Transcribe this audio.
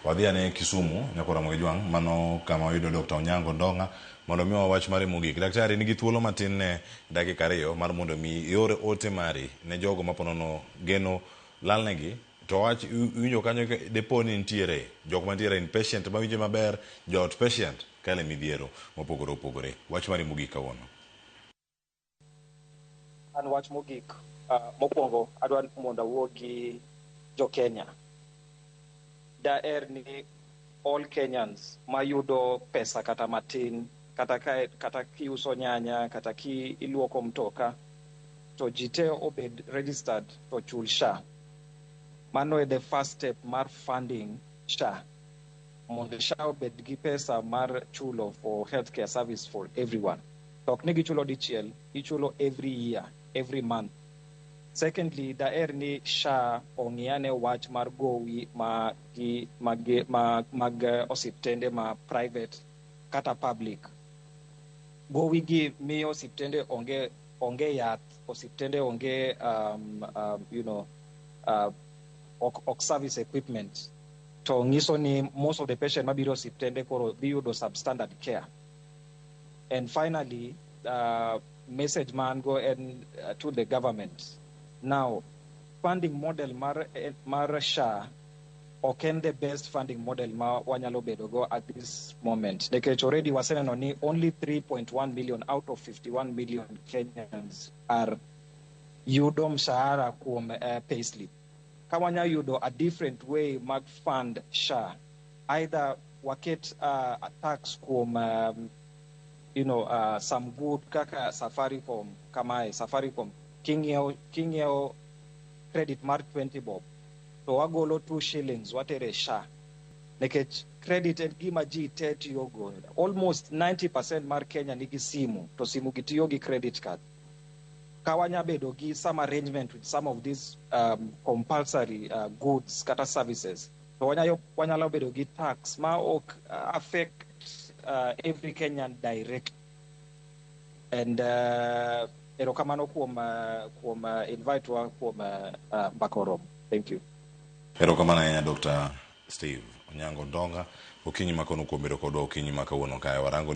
Wadhi ane Kisumu, Nyako Ramogi Jwang', mano kama wayudo Dokta Onyango Ndong'a mondo omiwa wach mare mogik. Daktari, in gi thuolo matin ne dakika ariyo mar mondo mi ior ote mari ne jogo maponono geno lalnegi to wach iwinjo kanyo depo ni nitiere jok mantiere in patient mawinje maber, joot patient kale midhiero mopogore opogore. Wach mari mogik kawuono. An wach mogik, mokuongo adwa ni mondo awuo gi jo Kenya. Daher ni all Kenyans mayudo pesa kata matin, kata ka kata kiuso nyanya, kata kiluoko mtoka, to ji te obed registered to chul SHA. Mano e the first step mar funding SHA. Mondo SHA obed gi pesa mar chulo for healthcare service for everyone. To ok ni gichulo dichiel, ichulo every year, every month. Secondly, daher ni SHA ong'i ane wach mar gowi ma gi, mag, mag, mag eh, osiptende ma private kata public. Gowi gi miyo osiptende onge onge yath, osiptende onge um, um, you know, uh, ok, ok service equipment to nyiso ni most of the patient mabiro osiptende koro dhi yudo substandard care And finally, uh, message mango and uh, to the government. Now, funding model mar, eh, mar SHA ok en the best funding model ma wanyalo bedo go at this moment nikech already waseneno ni only 3.1 million out of 51 million kenyans are yudo mshahara kuom uh, payslip Ka wanya yudo a different way mag fund SHA, either waket uh, a tax kuom um, you know, uh, some good kaka Safaricom kamae, Safaricom king'iewo king'iewo credit mar 20 bob to wagolo 2 shillings watere SHA nikech credit en gima ji te tiyogo almost 90% mar Kenya nigi simu to simu gi tiyo gi credit card ka wanya bedo gi some arrangement with some of these um, compulsory uh, goods kata services to wanyayo wanyalo bedo gi tax ma ok uh, affect uh, every Kenyan direct and uh, erokamano kuom uh, kuom uh, invite wa kuom uh, uh, Bakoro thank you erokamano ahinya Dr. Steve Onyango Ndonga okinyi makono kuom bedo kodwa okinyi makawuono kae warango ni